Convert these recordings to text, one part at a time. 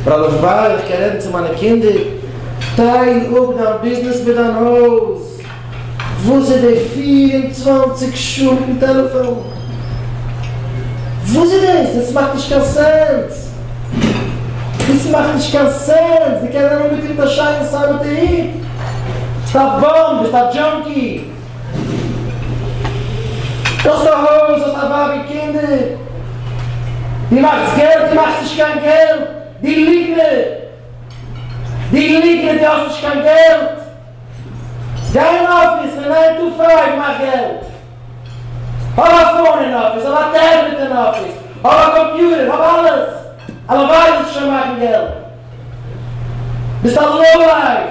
רבי פאר איך קען רעדן צו מיינע קינדער, טייל אפ דיין ביזנעס מיט דיין הויז, וואס איז די פֿיר און צוואַנציק שעה מיטן טעלעפאן? וואס איז דאס? דאס מאכט נישט קיין סענס! דאס מאכט נישט קיין סענס! דו קענסט זיין אנגעטון מיט א שיינע סאמעטע הוט, ביסט א באם, ביסט א דזשאנקי, דו האסט א הויז, האסט א ווייב און קינדער, דו מאכסט געלט, דו מאכסט נישט קיין געלט, דו ליגנער, דו ליגנער, דו האסט נישט קיין געלט, גיי אין אפיס פון ניין טו פייוו, מאך געלט, האב א פאון אין אפיס, האב א טעבלעט אין אפיס, האב א קאמפיוטער, האב אלעס, הלוואי זאלסטו שוין מאכן געלט, ביסט א לאו לייף.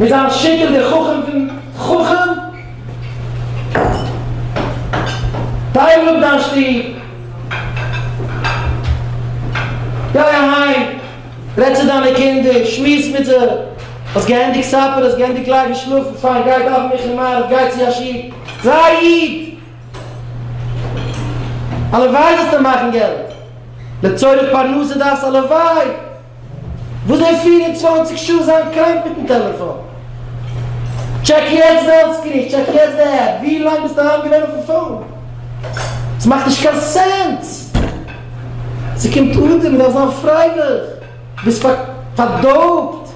מיט זיין שקר דער חכם פון חכם טייל אפ דיין שטוב גיי אהיים רעד צו דיינע קינדער שמועס מיט זיי האסט געענדיגט סאפער האסט געענדיגט לייגן שלאפן פיין גיי דאווען מיך און מעריב גיי צו א שול זיי א איד הלוואי זאלסטו מאכן געלט לצורך פרנסה דארפסט הלוואי וויאזוי פֿיר און צוואַנציק שעה זיין קראנק מיטן טעלעפאן. טשעק יעצט די העלט סקרין, טשעק יעצט די עפפ, ווי לאנג ביסטו אהיים געווען אויפן פאון? ס'מאכט נישט קיין סענס! ס'קומט אדער מ'דארף זיין פרייליך, ביסט פארדארבט.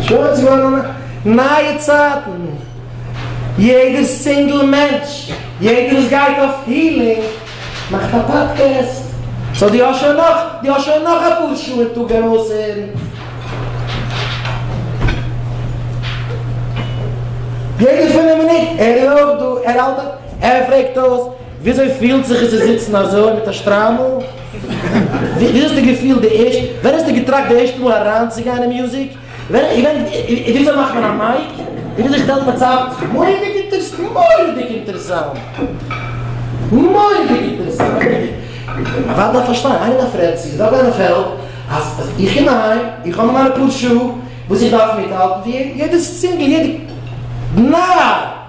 שוין ס'איז געווארן נייע צייטן, יעדער סינגל מענטש, יעדער וואס גייט אויף הילינג מאכט א פאדקעסט. סאו דו האסט שוין נאך, דו האסט שוין נאך אפאר שעה און טאג ארויסהערן. יעדע פינף מינוט ער איז אויך דא, ער האלט א, ער פרעגט אויס וויאזוי פילט זיך עס צו זיצן אזוי מיט א שטריימל? וויאזוי האסטו געפילט די ערשטע, ווען האסטו געטראכט די ערשטע מאל אריינצוגיין אין מוזיק? ווען איך געדענק וויאזוי מאכט מען א מייק, וויאזוי שטעלט מען צאם, מורא'דיג אינטערסאנט, מורא'דיג אינטערסאנט, מורא'דיג אינטערסאנט, א ווייב דארף פארשטיין, איינער דארף רעדן, צו ס'דא אזא פעלד אז איך קום אהיים, איך האב מיינע פאר שעה וואס איך דארף מיטהאלטן ווי יעדעס צינגל, יעדע נאר.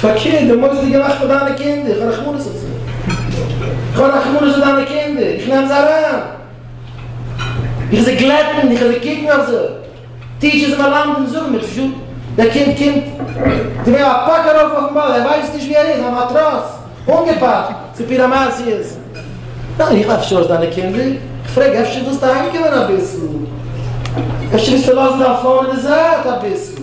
פארקערט, די מוסר געמאכט פאר דיינע קינדער, איך האב רחמנות אויף זיי. איך האב רחמנות אויף דיינע קינדער, איך נעם זיי אריין. איך זיך גלעטן, איך זיך קוקן אויף זיי. טיטשערס און מלמדים זאגן מיר, תשאל, דער קינד קומט, זיי געבן א פאק ארויף אויפן באד, ער ווייסט נישט וואו ער איז, א מאטראץ, אנגעפאקט, צופיל אמאציעס. ניין, איך האב שארס דיינע קינדער, איך פרעג, אפשר ווילסטו אהיימקומען אביסל? אפשר ווילסטו לאזן דיין פאון אין די זייט אביסל?